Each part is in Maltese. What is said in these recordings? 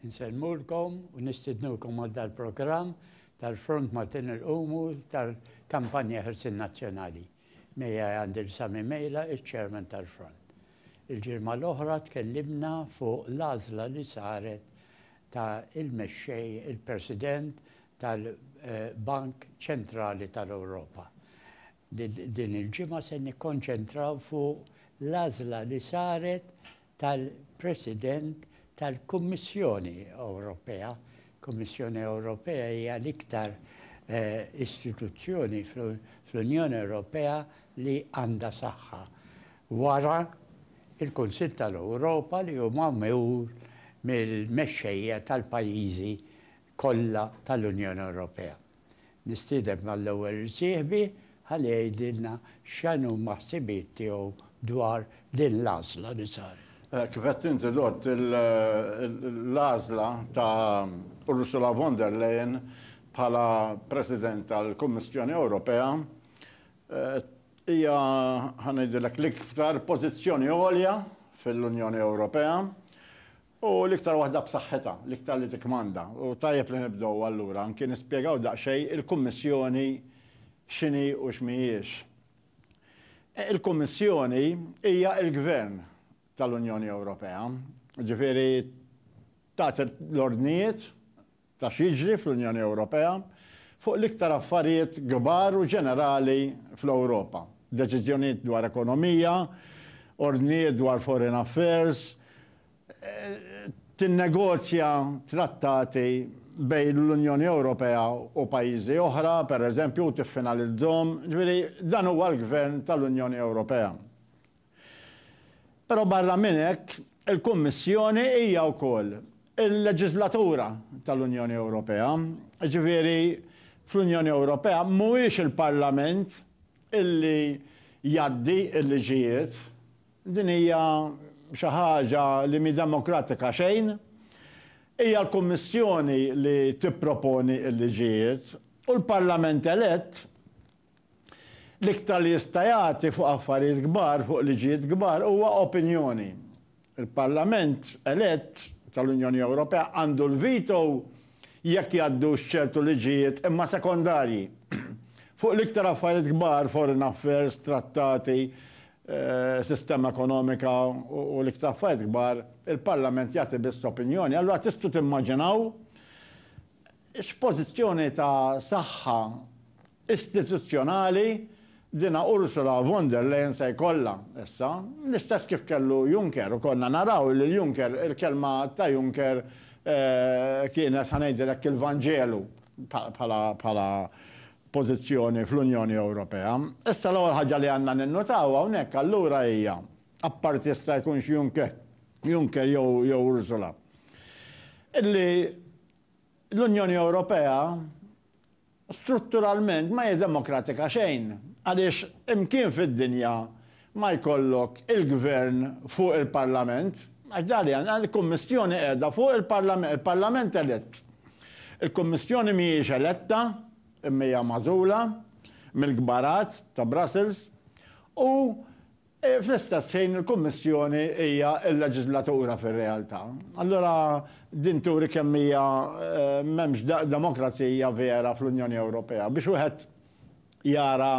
Insellmulkom u nistidnukom għal dal-programm tal-Front Maltin Il-Qumu tal-Kampanja Ħelsien Nazzjonali. Miegħi għandi L. Sami Mejla, iċ-Chairman tal-Front. Il-ġimgħa l-oħra tkellimna fuq l-għażla li saret ta' il-Mexxej, il-President tal-Bank Ċentrali tal-Ewropa. Din il-ġimgħa se nikkonċentraw fuq l-għażla li saret tal-President tal-Kummissjoni Ewropea. Il-Kummissjoni Ewropea hija l-iktar istituzzjoni fl-Unjoni Ewropea li għandha saħħa wara l-Kunsill tal-Ewropa li hu magħmul mill-mexxejja tal-pajjiżi kollha tal-Unjoni Ewropea. Nistieden mal-ewwel irsieħbi ħalli jgħidilna x'inhuma ħsibijiet tiegħu dwar din l-għażla li saret. Kif għedt inti Lord, l-għażla ta' Ursula von der Leyen bħala President tal-Kummissjoni Ewropea hija, ħa ngħidilek, l-iktar pożizzjoni għolja fil-Unjoni Ewropea. Hu l-iktar waħda b'saħħitha, l-iktar li tikkmanda. U tajjeb li nibdew allura anki nispjegaw daqsxejn il-Kummissjoni x'inhi u x'mhijiex. Il-Kummissjoni hija l-gvern tal-Unjoni Ewropea, jiġifieri tagħti l-ordnijiet ta' x'jiġri fl-Unjoni Ewropea fuq l-iktar affarijiet kbar u ġenerali fl-Ewropa, deċiżjonijiet dwar ekonomija, ordnijiet dwar foreign affairs, tinnegozja trattati bejn l-Unjoni Ewropea u pajjiżi oħra, pereżempju, u tiffinalizzhom, ġifieri dan huwa l-Gvern tal-Unjoni Ewropea. Però barra minn hekk, il-Kummissjoni hija wkoll il-leġiżlatura tal-Unjoni Ewropea, jiġifieri fl-Unjoni Ewropea mhuwiex il-Parlament illi jgħaddi l-liġijiet. Din hija xi ħaġa li mhi demokratika xejn. Hija l-Kummissjoni li tipproponi l-liġijiet u l-Parlament elett L-iktar li jista' jagħti fuq affarijiet kbar, fuq liġijiet kbar, huwa opinjoni. Il-Parlament elett tal-Unjoni Ewropea għandu l-veto jekk jgħaddux ċertu liġijiet imma sekondarji. Fuq l-iktar affarijiet kbar, foreign affairs, trattati, sistema ekonomika u l-iktar affarijiet kbar, il-Parlament jagħti biss opinjoni. Allura tistgħu timmaġinaw X'pożizzjoni ta' saħħa istituzzjonali dina Ursula von der Leyen se jkollha issa? L-istess kif kellu Juncker u konna naraw lil Juncker, il-kelma ta' Juncker kienet ħa ngħidilek il-Vanġelu bħala pożizzjoni fl-Unjoni Ewropea. Issa l-ewwel ħaġa li għandna ninnutaw hawnhekk allura hija, apparti jista' jkunx Juncker jew Ursula, illi L-Unjoni Ewropea strutturalment ma hi demokratika xejn, għaliex imkien fid-dinja ma jkollok il-gvern fuq il-parlament, għax dak li għandna, il-Kummissjoni qiegħda fuq il-parlament, il-parlament elett. Il-Kummissjoni mhijiex eletta, imma hija magħżula mill-kbarat ta' Brussels u Fl-istess ħin il-Kummissjoni hija l-leġiżlatura fir-realtà. Allura din turi kemm hija m'hemmx demokrazija vera fl-Unjoni Ewropea. Biex wieħed jara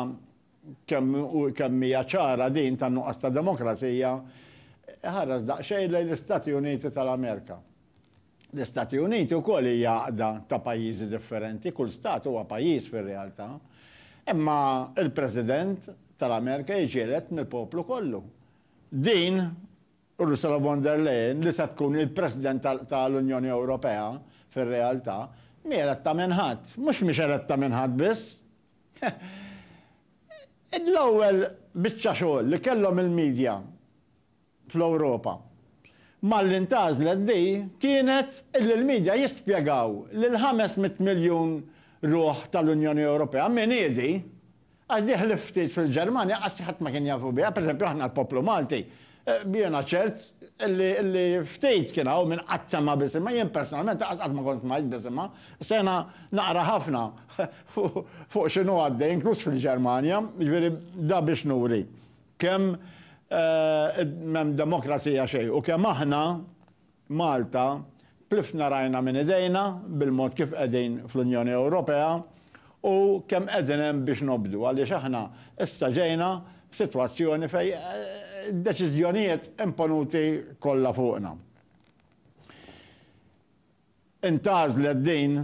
kemm kemm hija ċara din tan-nuqqas ta' demokrazija, iħares daqsxejn lejn l-Istati Uniti tal-Amerika. L-Istati Uniti wkoll hi għaqda ta' pajjiżi differenti, kull stat huwa pajjiż fir-realtà. Imma l-President tal-Amerika jiġieled mill-poplu kollu. Din, Ursula von der Leyen, li se tkun il-President tal-Unjoni Ewropea fir-realtà, mhi eletta minn ħadd. Mhux mhix eletta minn ħadd biss. L-ewwel biċċa xogħol li kellhom il-media fl-Ewropa. Malli ntgħażlet di kienet illi l-midja jispjegaw lill-500 miljun ruħ tal-Unjoni Ewropea min hi di, għax di ħlief ftit fil-Ġermanja kważi ħadd ma kien jafu biha, pereżempju aħna l-poplu Malti, jiena ċert illi ftit kien hawn min qatt sema' b'isimha, jien personalment lanqas qatt ma kont smajt b'isimha, issa jiena naqra ħafna fuq x'inhu għaddej inkluż fil-Ġermanja, jiġifieri da biex nuri Kemm m'hemm demokrazija xejn u kemm aħna, Malta, tlifna rajna minn idejna bil-mod kif qegħdin fl-Unjoni Ewropea u kemm qegħdin hemm biex nobdu għaliex aħna issa ġejna f'sitwazzjoni fejn id-deċiżjonijiet imponuti kollha fuqna. Intgħażlet din,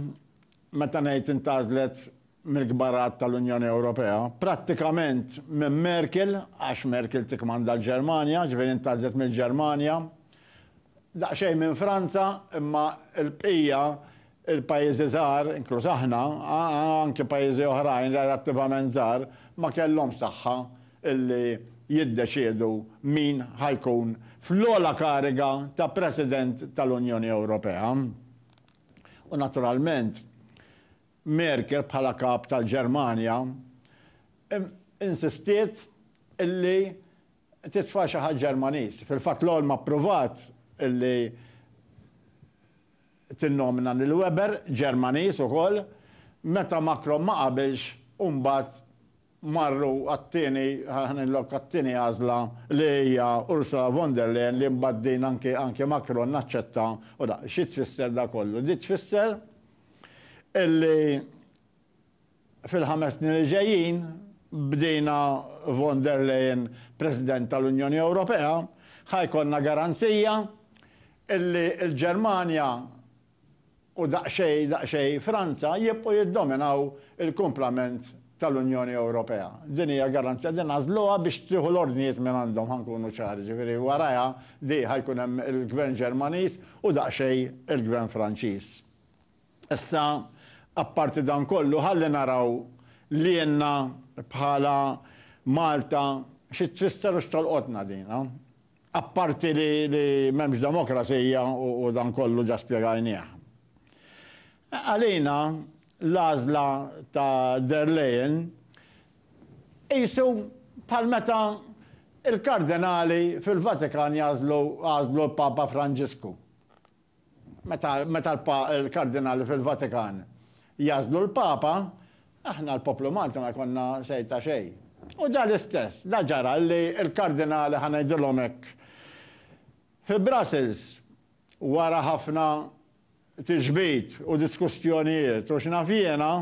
meta ngħid intgħażlet mill-kbar għadd tal-Unjoni Ewropea, prattikament minn Merkel, għax Merkel tikkmanda l-Ġermanja, ġifieri intgħażlet mill-Ġermanja, daqsxejn minn Franza, imma l-bqija, il-pajjiżi żgħar, inkluż aħna, anki pajjiżi oħrajn relattivament żgħar, ma kellhomx saħħa li jiddeċiedu min ħa jkun fl-ogħla kariga ta' President tal-Unjoni Ewropea. U naturalment, Merkel bħala Kap tal-Ġermanja insistiet li titfa' xi ħadd Ġermaniż. Fil-fatt l-Olm appruvat li tinnomina lil Weber, Ġermaniż ukoll, meta Macron ma qabilx u mbagħad marru għat-tieni, ħanieħu lok għat-tieni għażla li hija Ursula von der Leyen li mbagħad din anke anke Macron aċċetta u da. Xi tfisser da kollu? Di tfisser illi fil-ħames snin li ġejjin b'dina von der Leyen President tal-Unjoni Ewropea ħa jkollna garanzija illi l-Ġermanja u daqsxejn daqsxejn Franza jibqgħu jiddominaw il-kumplament tal-Unjoni Ewropea. Din hija garanzija, din għażluha biex tieħu l-ordnijiet mingħandhom ħa nkunu ċari, jiġifieri warajha di ħa jkun hemm il-Gvern Ġermaniż u daqsxejn il-Gvern Franċiż. Issa apparti dan kollu ħalli naraw lilna bħala Malta xi tfisser u x'tolqotna din. Apparti li m'hemmx demokrazija u dan kollu ġa spjegajnieh. Għalina l-għażla ta' der Leyen qisu bħal meta l-kardinali fil-Vatikan jagħżlu għażlu l-Papa Franġisku. Meta l-Kardinali fil-Vatikan jagħżlu l-Papa, aħna l-poplu Malti ma jkollna say ta' xejn. U dan l-istess, dan ġara li l-Kardinali, ħa ngħidilhom hekk, fi Brussels, wara ħafna tiġbid u diskussjonijiet u x'naf jiena,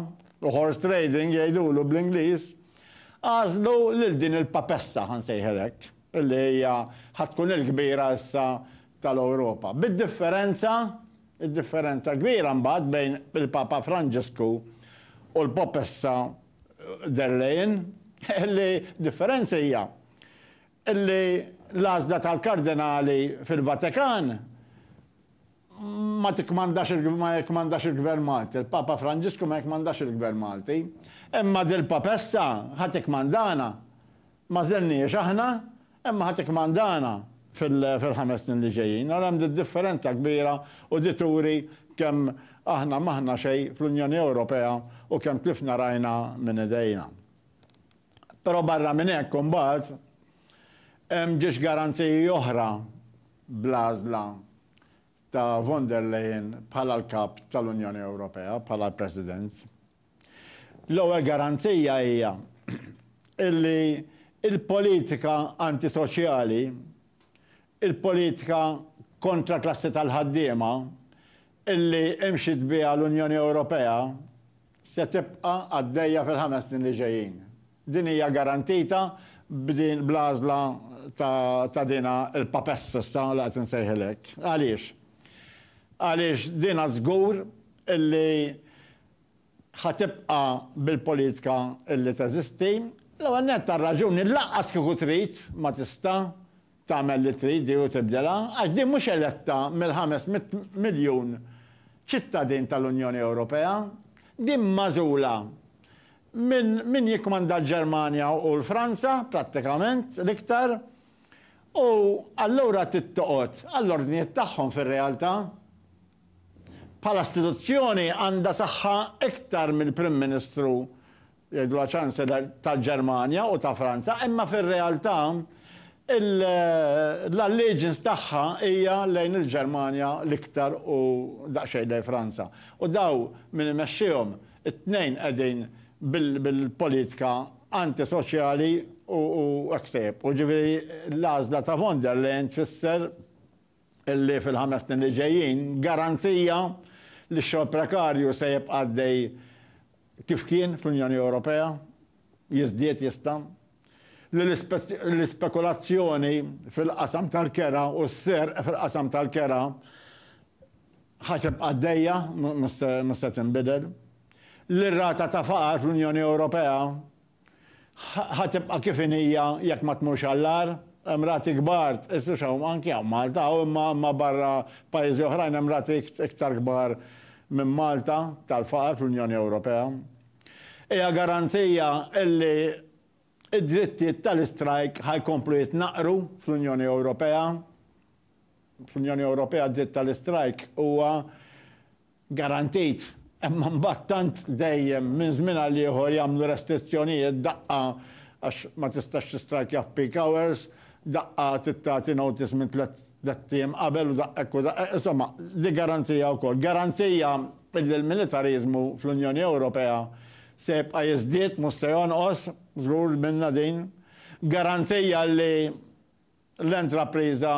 u horse trading jgħidulu bl-Ingliż, għażlu lil din il-Papessa, ħa nsejħilha hekk, li hija ħa tkun il-kbira issa tal-Ewropa, bid-differenza, id-differenza kbira mbagħad bejn il-Papa Franġisku u l-Popessa der Leyen, li d-differenza hija li l-għażla tal-Kardinali fil-Vatikan ma tikkmandax ma jikkmandax il-Gvern Malti, il-Papa Franġisku ma jikkmandax il-Gvern Malti, imma dil-Popessa ħa tikkmandana, Ma żenniex aħna, imma ħa tikkmandana fil-ħames snin li ġejjin. Ara hemm d-differenza kbira u di turi kemm aħna m'aħna xejn fl-Unjoni Ewropea u kemm tlifna rajna minn idejna. Però barra minn hekk imbagħad hemm ġiex garanziji oħra bl-għażla ta' von der Leyen bħala l-Kap tal-Unjoni Ewropea, bħala l-President. L-ewwel garanzija hija li l-politika antisoċjali, il-politika kontra l-klassi tal-ħaddiema li mxiet biha l-Unjoni Ewropea se tibqa' għaddejja fil-ħames snin li ġejjin. Din hija garantita b'din bl-għażla ta' ta' dina l-PAPES issa li qed insejħilha hekk. Għaliex? Għaliex dina żgur li ħa tibqa' bil-politika li teżisti. L-ewwel nett għar-raġuni lanqas kieku trid ma tista' tagħmel li trid hi u tibdilha għax din mhux eletta mill-ħames mitt miljun ċittadin tal-Unjoni Ewropea. Din magħżula minn min jikkmanda l-Ġermanja u l-Franza prattikament l-iktar u allura trid toqgħod għall-ordnijiet tagħhom fir-realtà. Bħala istituzzjoni għandha saħħa iktar mill-Prim Ministru, jgħidulha Chancellor, tal-Ġermanja u ta' Franza, imma fir-realtà l-allegiance tagħha hija lejn il-Ġermanja l-iktar u daqsxejn lejn Franza. U daw min imexxihom, it-tnejn qegħdin bil-politika antisoċjali u hekk se jibqgħu. Jiġifieri l-għażla ta' von der Leyen tfisser. li fil-ħames snin li ġejjin garanzija li x-xogħol prekarju se jibqa' għaddej kif kien fl-Unjoni Ewropea, jiżdied jista', li l-ispekulazzjoni fil-qasam tal-kera u s-serq fil-qasam tal-kera ħa tibqa' għaddejja mhux se tinbidel, li r-rata ta' faqar fl-Unjoni Ewropea Ħa tibqa' kif inhija jekk ma tmurx għall-agħar. Hemm rati kbar, tqisux hawn, anki hawn Malta, hawn imma imma barra pajjiżi oħrajn hemm rati iktar kbar minn Malta tal-faqar fl-Unjoni Ewropea. Hija garanzija illi d-drittijiet tal-istrajk ħa jkomplu jitnaqqru fl-Unjoni Ewropea. Fl-Unjoni Ewropea d-dritt tal-istrajk huwa Garantejt, imma mbagħad tant dejjem minn żmien għal ieħor jagħmlu restrizzjonijiet daqqa għax ma tistax tistrajkja f'peak hours, daqqa trid tagħti notice minn tliet tliet ijiem qabel u daq'hekk u daq'hekk, insomma, dik garanzija wkoll. Garanzija illi l-militariżmu fl-Unjoni Ewropea se jibqa' jiżdied mhux se jonqos, żgur li minna din. Garanzija li L-intrapriża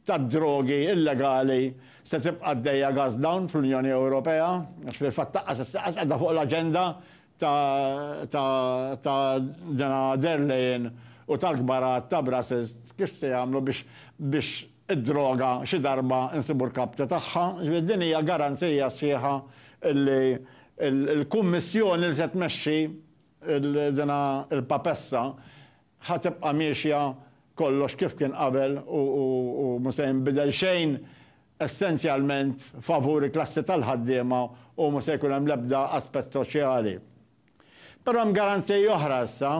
tad-drogi illegali se tibqa' għaddejja gas down fl-Unjoni Ewropea, għax fil-fatt taqqas issa qas qiegħda fuq l-aġenda ta' din der Leyen u tal-kbar għadd ta' Brussels kif se jagħmlu biex id-droga xi darba nsibu l-kapta tagħha. Ġifieri din hija garanzija sħiħa li l-Kummissjoni li se tmexxi din il-papessa Ħa tibqa' miexja kollox kif kien qabel u mhu se jinbidel xejn essenzjalment favur il-klassi tal-ħaddiema u mhu se jkun hemm l-ebda aspett soċjali. Però hemm garanzija oħra issa.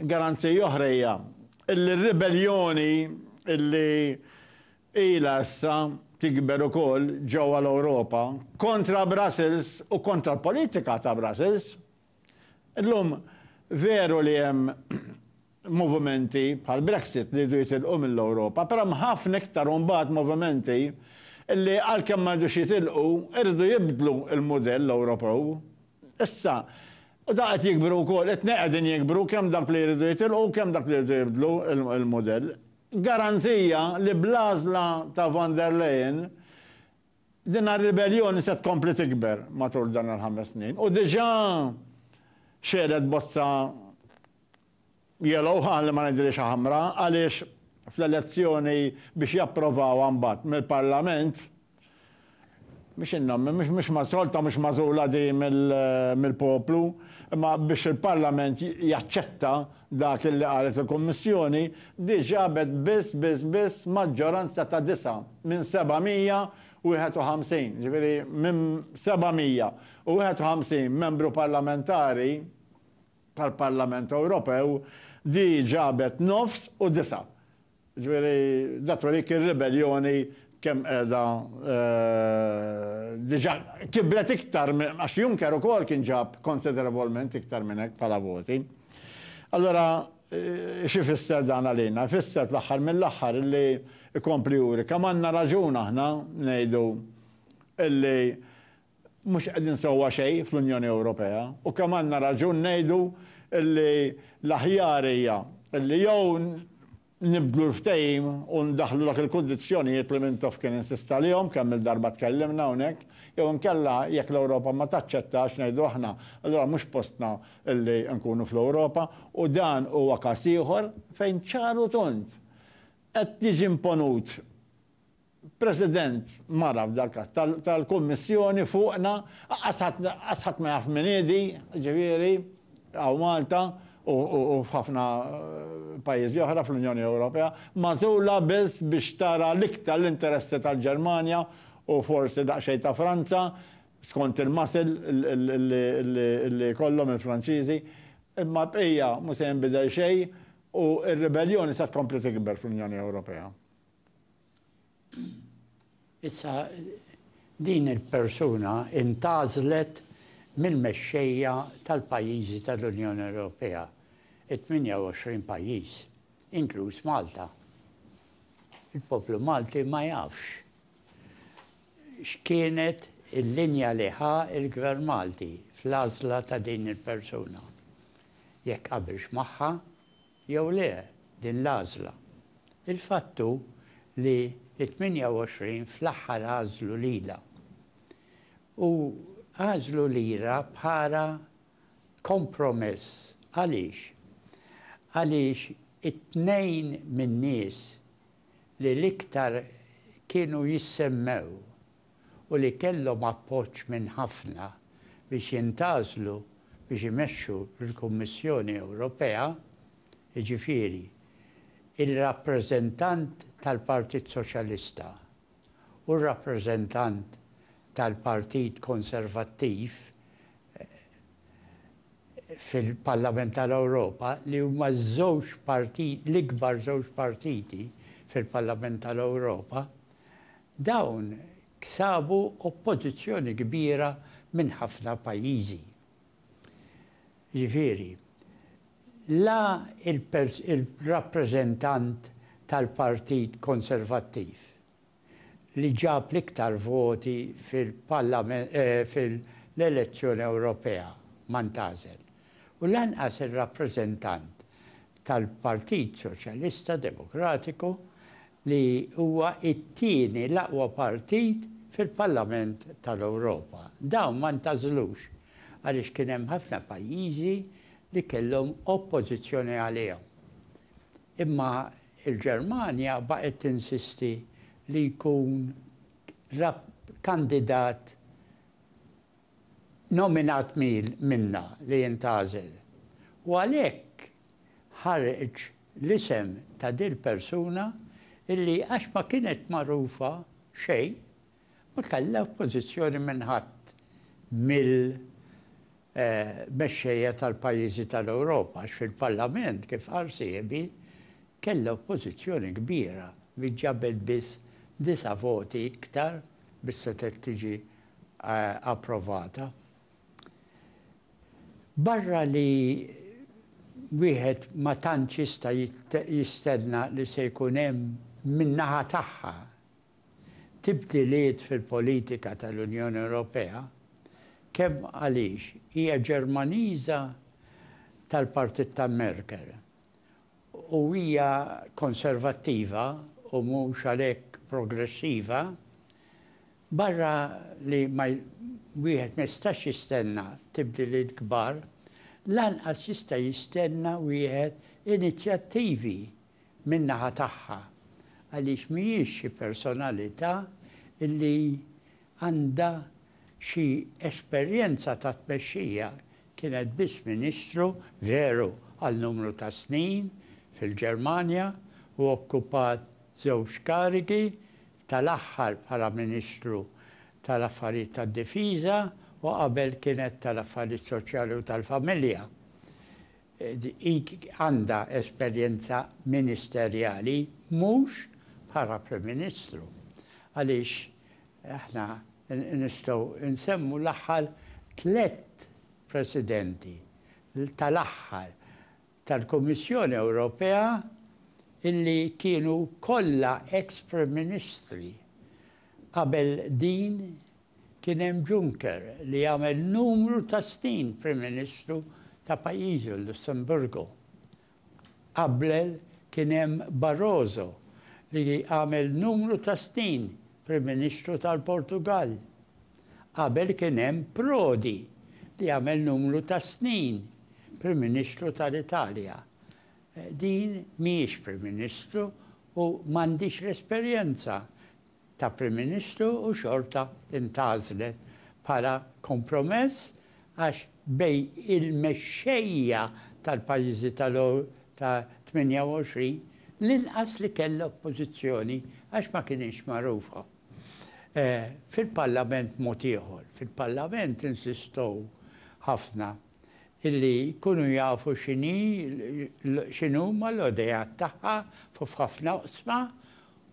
Garanzija oħra hija illi r-ribelljoni illi ilha issa tikber ukoll ġewwa l-Ewropa kontra Brussels u kontra l-politika ta' Brussels, Illum, veru li hemm movimenti bħall-Brexit li jridu jitilqu mill-Ewropa, però hemm ħafna iktar u mbagħad movimenti li għalkemm ma jridux jitilqu, iridu jibdlu l-mudell Ewropew. Issa, u dawn qed jikbru wkoll, it-tnejn qegħdin jikbru, kemm dawk li jridu jitilqu u kemm dawk li jridu jibdlu l-mudell. Garanzija li bl-għażla ta' von der Leyen Din ir-ribelljoni se tkompli tikber matul dan il-ħames snin u diġà xegħlet bozza yellow, ħalli ma ngħidilhiex ħamra, għaliex fl-elezzjoni biex japprovawha mbagħad mill-Parlament, mhix in-nom, mhux mas-solta mhux magħżula di mill-poplu, imma biex il-Parlament jaċċetta dak illi qalet il-Kummissjoni, diġà għabet biss, biss, biss maġġoranza ta' disa'. minn 751, jiġifieri minn 751 Membru Parlamentari tal-Parlament Ewropew, di ġabet nofs u disa'. Jiġifieri da turik ir-ribelljoni kemm qiegħda diġà kibret iktar minn għax Juncker ukoll kien ġab konsiderevolment iktar minn hekk bħala voti. Allura, X'ifisser dan għalina? Ifisser fl-aħħar mill-aħħar illi jkompli juri kemm għandna raġun aħna ngħidu illi mhux qegħdin sewwa xejn fl-Unjoni Ewropea u kemm għandna raġun ngħidu illi l-aħjar hija illi jew nibdlu l-ftehim u ndaħħlu dak il-kundizzjonijiet li Mintoff kien insista għalihom, kemm-il darba tkellimna hawnhekk, jew inkella jekk l-Ewropa ma taċċettax ngħidu aħna allura mhux postna li nkunu fl-Ewropa u dan huwa każ ieħor fejn ċar u tond qed jiġi imponut President mara f'dal-każ tal-Kummissjoni fuqna, qaqqas ħadd ma jaf min hi di, ġifieri hawn Malta u f'ħafna pajjiżi oħra fl-Unjoni Ewropea, magħżula biss biex tara l-iktar l-interessi tal-Ġermanja u forsi daqsxejn ta' Franza, skont il-muscle li jkollhom il-Franċiżi, imma l-bqija mhux se jinbidel xejn u r-ribelljoni se tkompli tikber fl-Unjoni Ewropea. Issa din il-persuna intgħażlet mill-mexxejja tal-pajjiżi tal-Unjoni Ewropea, it-28 pajjiż, inkluż Malta. Il-poplu Malti ma jafx X'kienet il-linja li ħa l-Gvern Malti fl-għażla ta' din il-persuna? Jekk qabilx magħha jew le din l-għażla? Il-fatt hu li t-28 fl-aħħar għażlu lilha. U għażlu lilha bħala kompromess. Għaliex? Għaliex it-tnejn min-nies li l-iktar kienu jissemmew u li kellhom appoġġ minn ħafna biex jintgħażlu biex imexxu l-Kummissjoni Ewropea, jiġifieri, ir-rappreżentant tal-Partit Soċjalista, u r-rappreżentant tal-Partit Konservattiv fil-Parlament tal-Ewropa li huma ż-żewġ partit, l-ikbar żewġ partiti fil-Parlament tal-Ewropa, dawn ksabu oppożizzjoni kbira minn ħafna pajjiżi. Jiġifieri, la l-rappreżentant tal-Partit Konservattiv li ġab l-iktar voti fil-elezzjoni Ewropea ma ntgħażel u lanqas ir-rappreżentant tal-Partit Soċjalista Demokratiku li huwa t-tieni l-aqwa partit fil-Parlament tal-Ewropa. Dawn ma ntgħażlux għaliex kien hemm ħafna pajjiżi li kellhom oppożizzjoni għalihom. Imma l-Ġermanja baqgħet tinsisti li jkun kandidat nominat minna li jintgħażel u għalhekk ħareġ l-isem ta' dil-persuna illi għax ma kienet magħrufa xejn ma kellha oppożizzjoni minn ħadd mill mexxejja tal-pajjiżi tal-Ewropa għax fil-Parlament kif qal sieħbi kellha oppożizzjoni kbira li ġabet biss disa' voti iktar biex setgħet tiġi approvata. Barra li wieħed ma tantx jista' jistenna li se jkun hemm min-naħa tagħha tibdiliet fil-politika tal-Unjoni Ewropea, kemm għaliex hija Ġermaniża tal-partit ta' Merkel u hija konservattiva u mhux għalhekk progressiva, barra li ma wieħed ma jistax jistenna tibdiliet kbar, lanqas jista' jistenna wieħed inizjattivi min-naħa tagħha għaliex mhijiex xi personalità li Għandha xi esperjenza ta' tmexxija, kienet biss Ministru, veru, għal numru ta' snin fil-Ġermanja u okkupat żewġ karigi, tal-aħħar bħala Ministru tal-Affarijiet tad-Difiża u qabel kienet tal-Affarijiet Soċjali u tal-Familja. Hi għandha esperjenza ministerjali mhux bħala Prim Ministru għaliex Aħna nistgħu nsemmu l-aħħar tliet Presidenti tal-aħħar tal-Kummissjoni Ewropea illi kienu kollha ex-Prim Ministri. Qabel din kien hemm Juncker li għamel numru ta' snin Prim Ministru ta' pajjiżu, l-Lussemburgu. Qabel kien hemm Barroso li għamel numru ta' snin Prim Ministru tal-Portugall. Qabel kien hemm Prodi li għamel numru ta' snin Prim Ministru tal-Italja. Din mhijiex Prim Ministru u m'għandhiex l-esperjenza ta' Prim Ministru u xorta ntgħażlet bħala kompromess għax bejn il-mexxejja tal-pajjiżi ta' 28 l-inqas li kellha oppożizzjoni għax ma kinitx magħrufa. Fil-Parlament mod ieħor. Fil-Parlament insistow ħafna illi jkunu jafu x'inhi x'inhuma l-għodejat tagħha f'ħafna oqsma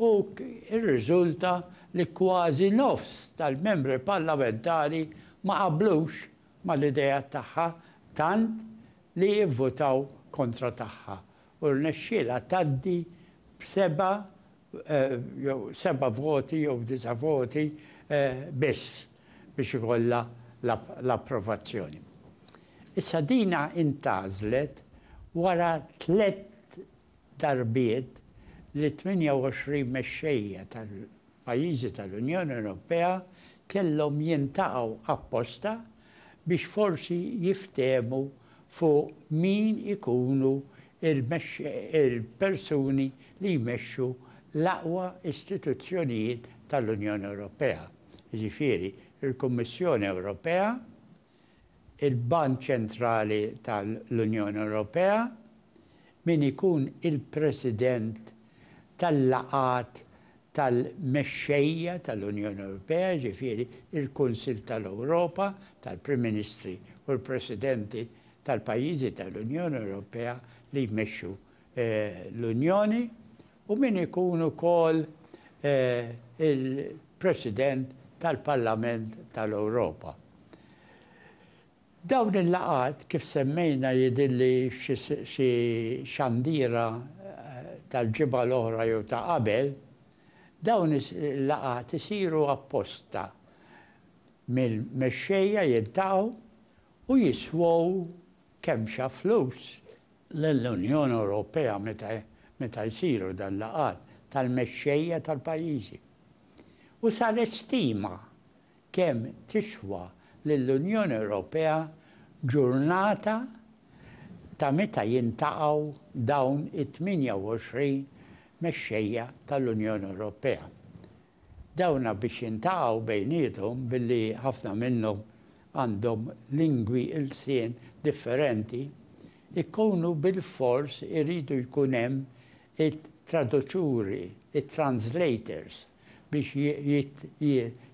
u rriżulta li kważi nofs tal-Membri Parlamentari ma qablux mal-idejat tagħha tant li vvutaw kontra tagħha u rnexxielha tgħaddi b' 7 jew seba' voti jew disa' voti biss biex ikollha l-approvazzjoni. Issa dina intgħażlet wara tliet darbiet li t-tmienja u għoxrin mexxejja tal-pajjiżi tal-Unjoni Ewropea kellhom jiltaqgħu apposta biex forsi jiftehmu fuq min ikunu il-persuni li jmexxu l-aqwa istituzzjonijiet tal-Unjoni Ewropea, jiġifieri l-Kummissjoni Ewropea, il-Bank Ċentrali tal-Unjoni Ewropea, min ikun il-President tal-laqgħat tal-mexxejja tal-Unjoni Ewropea, jiġifieri l-Kunsill tal-Ewropa, tal-Prim Ministri u l-Presidenti tal-pajjiżi tal-Unjoni Ewropea li jmexxu l-Unjoni u min ikun ukoll il-President tal-Parlament tal-Ewropa. Dawn il-laqgħat, kif semmejna, jidhirli xi xandiera tal-ġimgħa l-oħra jew ta' qabel, dawn il-laqgħat isiru apposta mill-mexxejja jiltaqgħu u jiswew kemmxa flus lill-Unjoni Ewropea meta meta jsiru dan laqgħat tal-mexxejja tal-pajjiżi. U saret stima kemm tiswa lill-Unjoni Ewropea ġurnata ta' meta jintaqgħu dawn it-28 mexxejja tal-Unjoni Ewropea. Dawna biex jintaqgħu bejniethom billi ħafna minnhom għandhom lingwi, ilsien, differenti, ikunu bilfors iridu jkun hemm it-traduċuri, it-translators, biex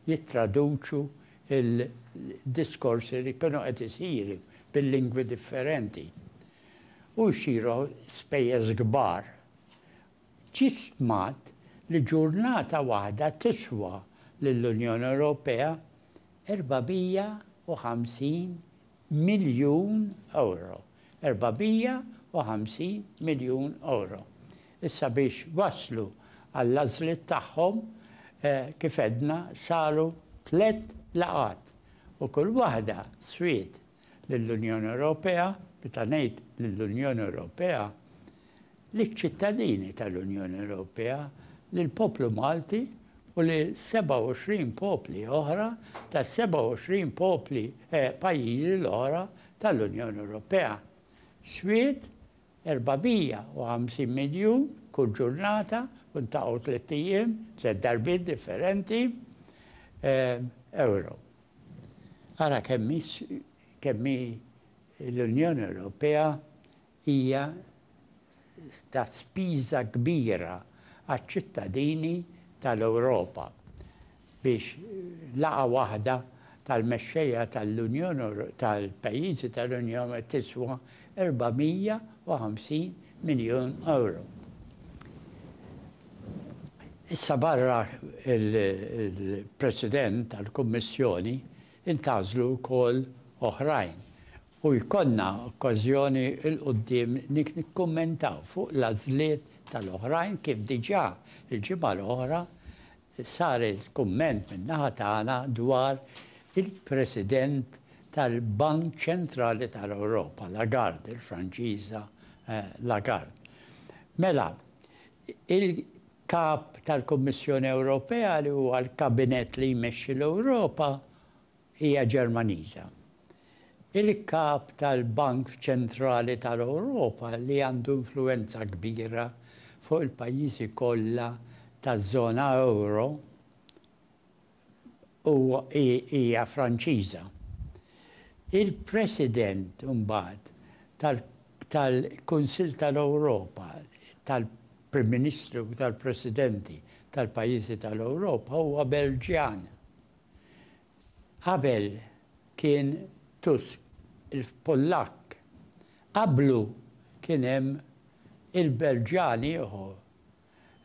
jittraduċu l-diskorsi li jkunu qed isiru bil-lingwi differenti. U jsiru spejjeż kbar. Ġie stmat li ġurnata waħda tiswa lill-Unjoni Ewropea 450 miljun ewro. 450 miljun ewro. Issa biex waslu għall-għażliet tagħhom, kif għedna, saru tliet laqgħat u kull waħda swiet lill-Unjoni Ewropea, meta ngħid lill-Unjoni Ewropea, liċ-ċittadini tal-Unjoni Ewropea, lill-poplu Malti u li 27 popli oħra tas-27 popli pajjiżi l-oħra tal-Unjoni Ewropea. Swied 450 miljun kull ġurnata u ntaqgħu tlett ijiem, tliet darbiet differenti, ewro. Ara kemm hi kemm hi l-Unjoni Ewropea hija ta' spiża kbira għaċ-ċittadini tal-Ewropa biex laqgħa waħda tal-mexxejja tal-Unjoni tal-pajjiżi tal-Unjoni tiswa 450 miljun ewro. Issa barra l-President tal-Kummissjoni ntgħażlu wkoll oħrajn u jkollna okkażjoni 'l quddiem nikkummentaw fuq l-għażliet tal-oħrajn kif diġà l-ġimgħa l-oħra sar il-kumment min-naħa tagħna dwar il-President tal-Bank Ċentrali tal-Ewropa, Lagarde, il-Franċiża Lagarde. Mela, Il-Kap tal-Kummissjoni Ewropea, li huwa l-kabinett li jmexxi l-Ewropa, hija Ġermaniża. Il-Kap tal-Bank Ċentrali tal-Ewropa, li għandu influwenza kbira fuq il-pajjiżi kollha taż-żona ewro, u hija Franċiża. Il-President imbagħad tal-Kunsill tal-Ewropa, tal-Prim Ministri u tal-Presidenti tal-pajjiżi tal-Ewropa huwa Belġjan. Qabel kien Tusk il-Pollakk. Qablu kien hemm il-Belġjan ieħor.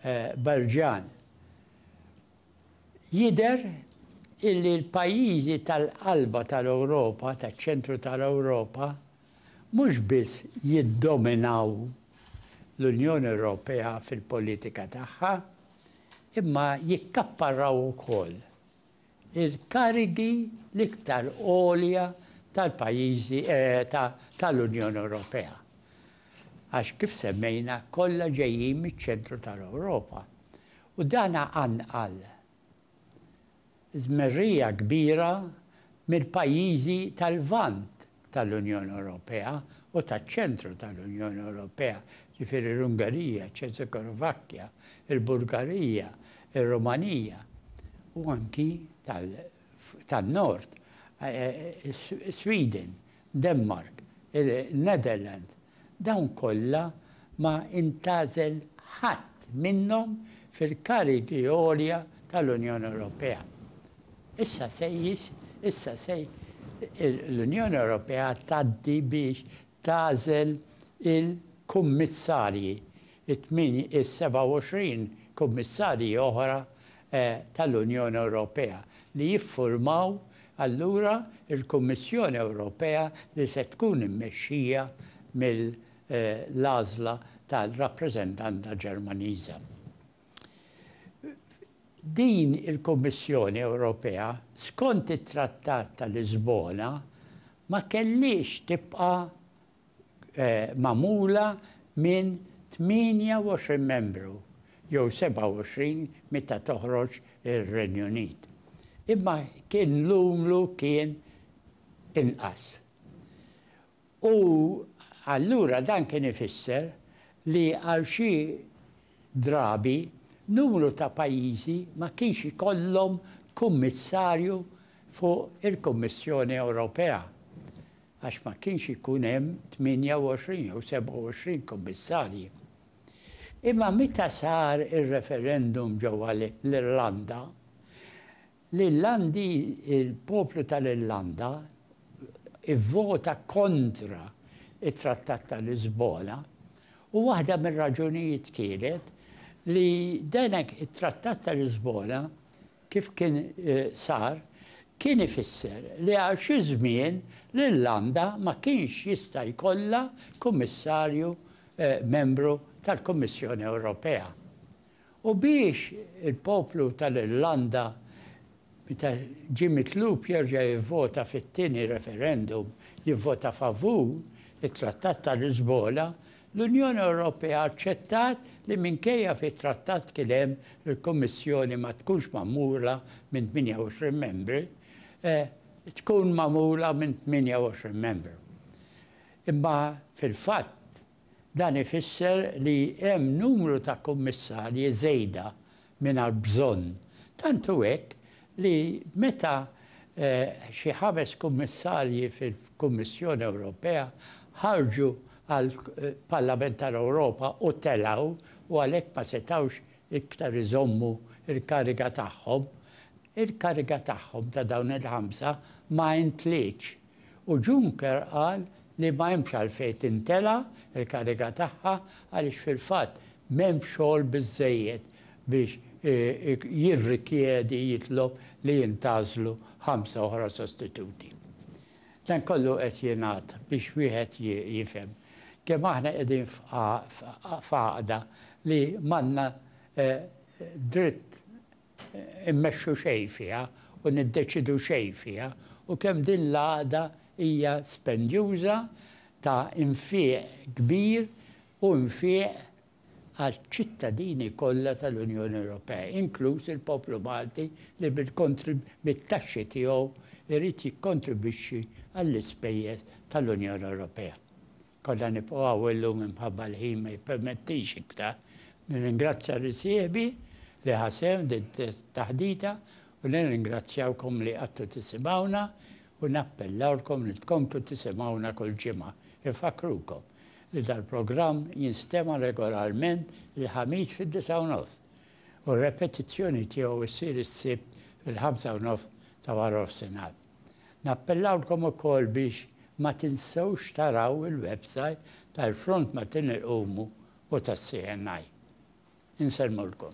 Belġjan. Jidher illi l-pajjiżi tal-qalba tal-Ewropa, taċ-ċentru tal-Ewropa, mhux biss jiddominaw l-Unjoni Ewropea fil-politika tagħha, imma jikkapparraw ukoll. il-karigi l-iktar għolja tal-pajjiżi tal-Unjoni Ewropea. Għax kif semmejna kollha ġejjin miċ-ċentru tal-Ewropa. U dan qanqal żmerrija kbira mill-pajjiżi tal-Lvant tal-Unjoni Ewropea u taċ-ċentru tal-Unjoni Ewropea, jiġifieri l-Ungerija, iċ-Ċeżikovakkja, il-Bulgarija, ir-Rumanija, u anki tan-Nord, is-Sweden, Denmark, in-Netherlands, Dawn kollha ma intgħażel ħadd minnhom fil-karigi għolja tal-Unjoni Ewropea. Issa se issa se l-Unjoni Ewropea tgħaddi biex tagħżel il-kummissarji it-27 Kummissarji oħra tal-Unjoni Ewropea li jiffurmaw allura l-Kummissjoni Ewropea li se tkun immexxija mill-għażla tal-rappreżentanta Ġermaniża. Din il-Kummissjoni Ewropea, skont it-Trattat ta' Lisbona, ma kellhiex tibqa' magħmula minn 28 membru jew 27 meta toħroġ ir-Renju Unit. Imma kien l-umlu kien inqas. U allura dan kien ifisser li għal xi drabi numru ta' pajjiżi ma kienx ikollhom kummissarju fuq il-Kummissjoni Ewropea. għax ma kienx ikun hemm 28 jew 27 kummissarji. Imma meta sar ir-referendum ġewwa l-Irlanda, l-Irlandi, il-poplu tal-Irlanda ivvota kontra t-Trattat ta' Lisbona u waħda mir-raġunijiet kienet li dan it-Trattat ta' Lisbona kif kien sar, kien ifisser li għal xi żmien l-Irlanda ma kienx jista' jkollha Kummissarju membru tal-Kummissjoni Ewropea. U biex il-poplu tal-Irlanda meta ġie mitlub jerġa' jivvota fit-tieni referendum jivvota favur it-Trattat ta' Lisbona L-Unjoni Ewropea aċċettat li minkejja fit-Trattat kien hemm il-Kummissjoni ma tkunx magħmula minn 28 membri, tkun magħmula minn 28 membru. Imma fil-fatt dan ifisser li hemm numru ta' kummissarji żejda mingħajr bżonn, tant hu hekk li meta xi ħames kummissarji fil-Kummissjoni Ewropea ħarġu għall-Parlament tal-Ewropa u telgħu u għalhekk ma setgħux iktar iżommu l-kariga tagħhom, il-kariga tagħhom ta' dawn il-ħamsa ma intlietx. U Juncker qal li ma hemmx għalfejn tintela' l-kariga tagħha għaliex fil-fatt m'hemmx xogħol biżżejjed biex jirrikjedi, jitlob, li jintgħażlu ħamsa oħra sostituti. Dan kollu qed jingħad biex wieħed jifhem kemm aħna qegħdin f'għaqda li m'għandna dritt immexxu xejn fiha u niddeċiedu xejn fiha u kemm din l-għaqda hija spendjuża ta' nfiq kbir u nfiq għaċ-ċittadini kollha tal-Unjoni Ewropea, inkluż il-poplu Malti li bit-taxxi tiegħu jrid jikkontribwixxi għall-ispejjeż tal-Unjoni Ewropea. Kollha nibqgħu hawn illum imħabba l-ħin ma jippermettix iktar. Nirringrazzja lil sieħbi li ħa sehem f'din it-taħdita u nirringrazzjawkom li qgħadtu tisimgħuna u nappellawlkom li tkomplu tisimgħuna kull ġimgħa. Infakkrukom li dal-programm jinstema' regolarment il-Ħamis fid-disgħa u nofs u r-repetizzjoni tiegħu ssir is-Sibt fil-ħamsa u nofs ta' warofsinhar. Nappellawlkom ukoll biex ma tinsewx taraw il-websajt tal-Front Maltin Iqumu u tas-CNI. Insellmulkom.